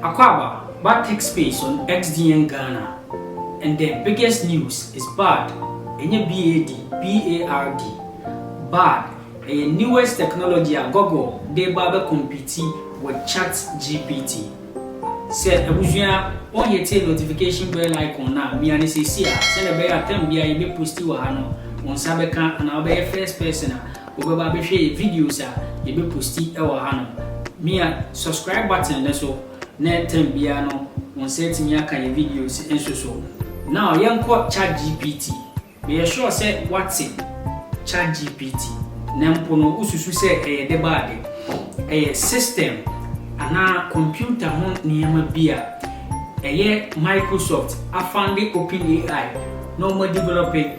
Akwaaba ba tech space on XDN Ghana and the biggest news is bard ɛnyɛ BAD, B-A-R-D, bard ɛyɛ newest technology a Google de reba abɛ compete with chat GPT. Sɛ abusua wɔn hitee notification bell icon no a mia no seesei a sɛnea ɛbɛyɛ a time biara yɛbɛ posti wɔ ha no wɔn nsa bɛka anaa wobɛyɛ first person a wobɛba abɛhwɛ yɛ videos a yɛbɛposti wɔ hanom. Mia subscribe button no so na time biara no wo nsa atumi aka yɛ videos nso so. Now yɛnkɔ chatgpt. Meyɛ sure sɛ woate chatgpt na mpo no wosusu sɛ ɛyɛ de ba ade. Ɛyɛ system anaa computer ho nneɛma bi a ɛyɛ Microsoft afande OpenAI na wɔadevelɔpe.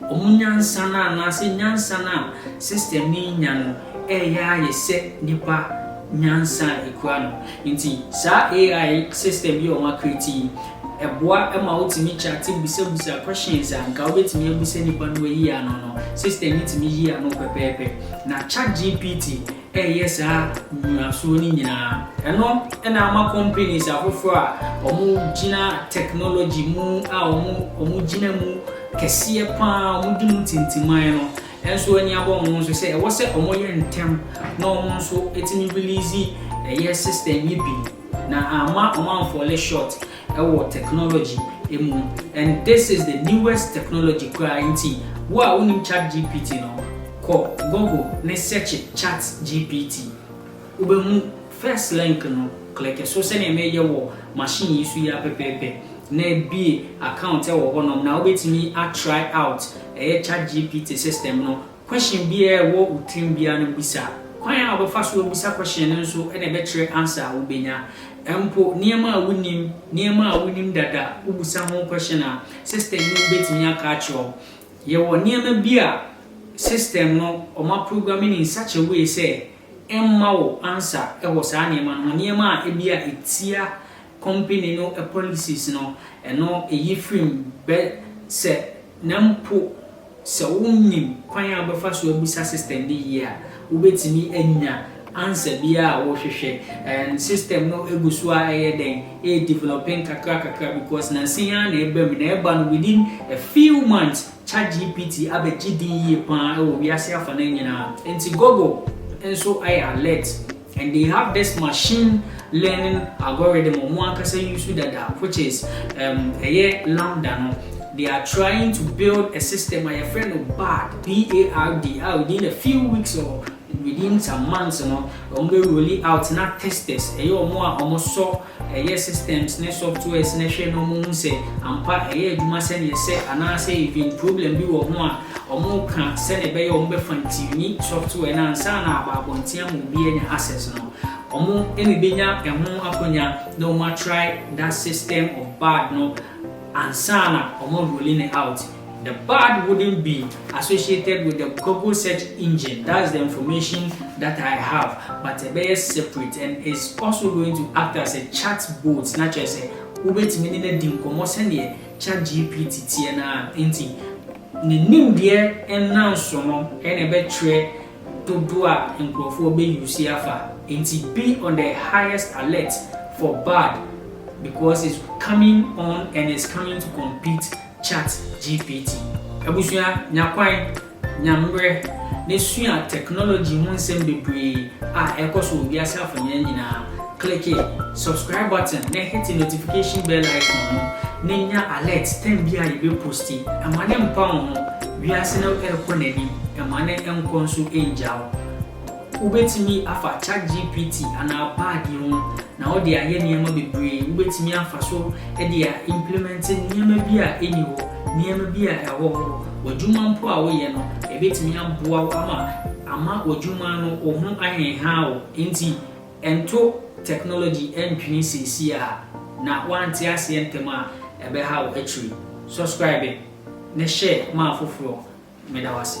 Wɔn nyansa no anaasɛ nyansa no a sister no renya no reyɛ ayɛ sɛ nnipa nyansa a ɛkura no. Enti saa AI system yi a wɔn acreate yi, ɛboa ma wotumi chate bisabusa questions a anka wobɛtumi abusa nnipa no wɔayi ano no, system no tumi yi ano pɛpɛɛpɛ. Na chat GPT reyɛ saa nnyinasoɔ no nyinaa. Ɛno na ama companies afoforɔ a wɔgyina technology mu a wɔgyina mu kɛseɛ pa ara, wɔdi mu tintiman no nso ani abɔ wɔn ho so sɛ ɛwɔ sɛ wɔyɛ ntɛm na wɔn nso tumi release ɛyɛ system yi bi na amma wɔn amfɔle short. wɔ technology mu and this is the newest technology koraa nti wo a wonim chat GPT no kɔ Google ne searche chat GPT wobɛhu first link no click so sɛdeɛ meyɛ wɔ machine yi so yi ara pɛpɛɛpɛ na bue account wɔ hɔnom na wobɛtumi a try out ɛyɛ chat GPT system no Question biara a ɛwɔ wo tirim biara no bisa. Kwan a wobɛfa so abisa question no nso na ɛbɛkyerɛ answer a wobɛnya. Mpo nneɛma a wonim, nneɛma a wonim dada, wobisa ho question a, system no bɛtumi aka akyerɛ wo. Yɛwɔ nneɛma bi a system no wɔaprogramme no in such a way sɛ ɛmma wo answer wɔ saa nneɛma no ho, nneɛma a ebia ɛtia company no policies no ɛno ɛyi firim bɛ sɛ na mpo sɛ wo nnim kwan a wo bɛfa so abisa system no yie a wo bɛtumi anya answer biara a wo hwehwɛ and system no ɛgu so ara ɛyɛ dɛn ɛyɛ developing nkakra kakra because nansa yi ara na ɛba mu na ɛba no within a few months chat GPT abɛ gye din yie paa wɔ wiase afa no nyinaa nti Google nso ayɛ alert. And they have this machine learning algorithm ɔmo ankasa use dada which is um ɛyɛ lambda no they are trying to build a system a yɛfrɛ no bard B-A-R-D a within a few weeks or within some months no ɔmo bɛ rolli out na testers ɛyɛ ɔmo a ɔmo sɔ ɛyɛ systems ne softwares no hwɛ na wɔhu sɛ ampa ɛyɛ adwuma sɛnea ɛsɛ anaasɛ even problem bi wɔ ho a, wɔka sɛnea ɛbɛyɛ a wɔbɛfa tune software no ansa na aba abɔnten ama obi anya access no. Wɔbenya ɛho akwanya na wɔatry that system of bad no ansa na wɔarolli no out. The bad wouldn't be associated with the Google search engine, that's the information that I have, but ɛbɛyɛ separate and it's also going to act as a chat boat na kyerɛ sɛ wobɛtumi ne no adi nkɔmmɔ sɛdeɛ chat GPT teɛ no ara nti ne nimdeɛ nnanso no na ɛbɛkyerɛ dodoɔ a nkurɔfoɔ bɛ use afa nti be on the highest alert for bad because it's coming on and it's coming to compete Chat GPT. Abusua, nya kwan, nya mmerɛ na sua technology ho nsɛm bebree a ɛrekɔ so wɔ wiase afanyaa nyinaa. Klike subscribe button na hete notification bell icon no na nya alert time biara a yɛbɛ posti. Mma no mpa wo ho, wiase no rekɔ n'anim, mma no nkɔ nso ngya wo. Wubetumi afa ChatGPT anaa Bard yi ho na wode ayɛ nneɛma bebree. Wubetumi afa so de a implemɛnte nneɛma bi a enni hɔ, nneɛma bi a ɛwɔ hɔ. W'adwuma mpo a woyɛ no, ebetumi aboa wo ama amma w'adwuma no wo ho anhenhaw wo. Enti nto technology ntwene seesei a, na woante aseɛ ntɛm a, ɛbɛha wo akyiri. Subscribe ne share ma afoforɔ. Meda wo ase.